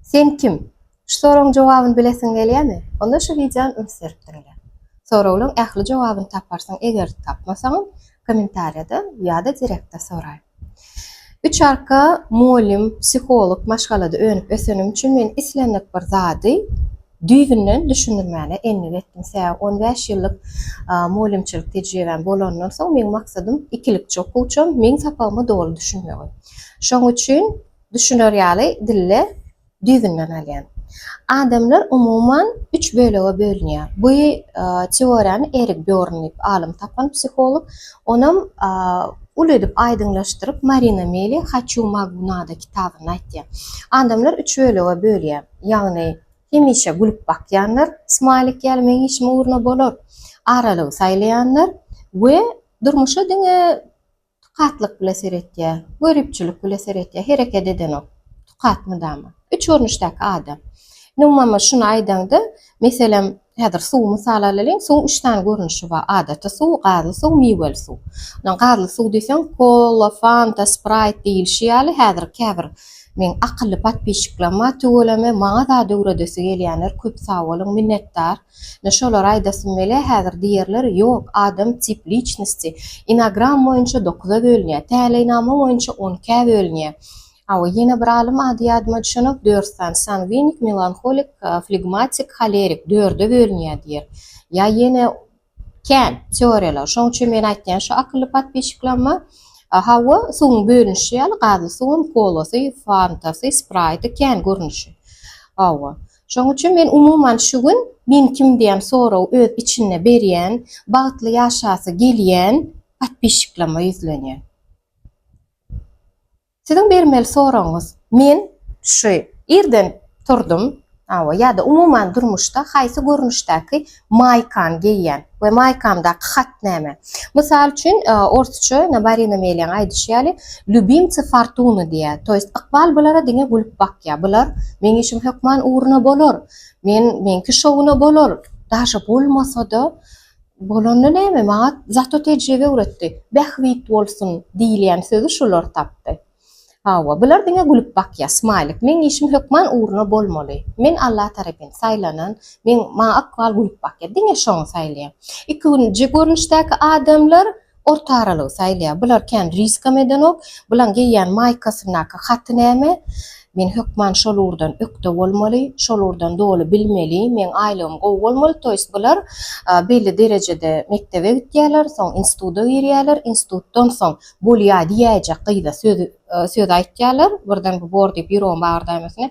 Sen kim? Şu soragyň jogabyny bilesiň gelýämi? Onda şu wideony üns berip diňle. Soraglaryň ähli jogabyny taparsyň, eger tapmasaňam, kommentariýada ýa-da direktde soraý. Üç arka mugallym, psiholog maşgalada önüp-ösenim üçin men islendik bir zady düýbünden düşündirmäne endik etdim. Sebäbi on bäş ýyllyk mugallymçylyk tejribäm bolandan soň meň maksadym ikilikçi okuwçam meň sapagyma doly düşünmegi. Şoň üçin Düşüner ýaly dille düýbünden alýan. Adamlar umuman üç bölege bölünýär. Bu teoriýany Erik Býorn diýip alym tapan psiholog. Onam uly edip aýdyňlaşdyryp Marina Meli Haçu Magu Nada kitabynda aýtýar. Adamlar üç bölege bölýär. Ýagny hemişe gülüp bakýanlar, smaýlik ýaly meň işim ugruna bolar, aralygy saýlaýanlar we durmuşa diňe Tukatlyk bile seretýä. Göripçilik bile seretýä. Hereket edenok. Tukat mydama. Üç görnüşdäki adam. Indi umumama şuny aýdaňda, meselem, häzir suwy mysal alalyň, suwuň üç sany görnüşi bar, adaty suw, gazly suw, miweli suw. Ynha, gazly suw diýseň, kola, fanta, spraýt diýilişi ýaly, häzir käbir meň akylly podpisçiklerim bar, tüweleme maňa zat öwredesi gelýänler, köp sag boluň, minnetdar. Ine şolary aýdasym gelýär häzir diýerler ýok adam tip liçnosti inagram boýunça dokuza bölünýär täleýnama boýunça on ikä bölünýär awy ýene bir alym ady ýadyma düşenok dört sany sangwinik melanholik flegmatik holerik dörde bölünýär diýer ýa ýene kän teoriýalar şoň üçin men aýtýan şu akylly podpisçiklamma hawa suwuň bölünişi ýaly gazly suwam kolasy fantasy spraýty kän görnüşi hawa. Şonuň üçin men umuman şu gün Men kim diýen soragy öz içinde berýän, bagtly ýaşasy gelýän podpisçiklama ýüzlenýän. Siziň bermeli soragyňyz Men şu irden turdum, hawa ýa-da umuman durmuşda haýsy görnüşdäki Maýkany geýýän we maýkamdaky hat näme? Mysal üçin, orsça Nabarina Meliýaň aýdyşy ýaly, Lýubimtsy fortuny diýýär, to ýest, ykbal bulara diňe gülüp bakýar. Bular, Meň işim hökman ugruna bolar. Men, meňki şowuna bolar. Daşa bolmasa-da, bolanda näme, maňa zato tejribe öwretdi. Bähbit bolsun! diýilýän sözi şular tapdy. Hawa, bular diňe gülüp bakýar. Smailik, Meň işim hökman ugruna bolmaly. Men Alla tarapyn saýlanan, meň maňa ykbal gülüp bakýar. Diňe şony saýlaýan. Ikinji görnüşdäki adamlar orta aralygy saýlaýar. Bular kän riskam edenok. Bulaň geýýän maýkasyndaky haty näme? Men hökman şol ugurdan ökde bolmaly, şol ugurdan doly bilmeli, meň aýlygym gowy bolmaly. To ýest bular belli derejede mekdebe gitýärler, soň instituda girýärler, institutdan soň Bolýa diýäýjek gyza söz söz aýtýarlar birden bu bor diýip ýüregim bagyrdamesine.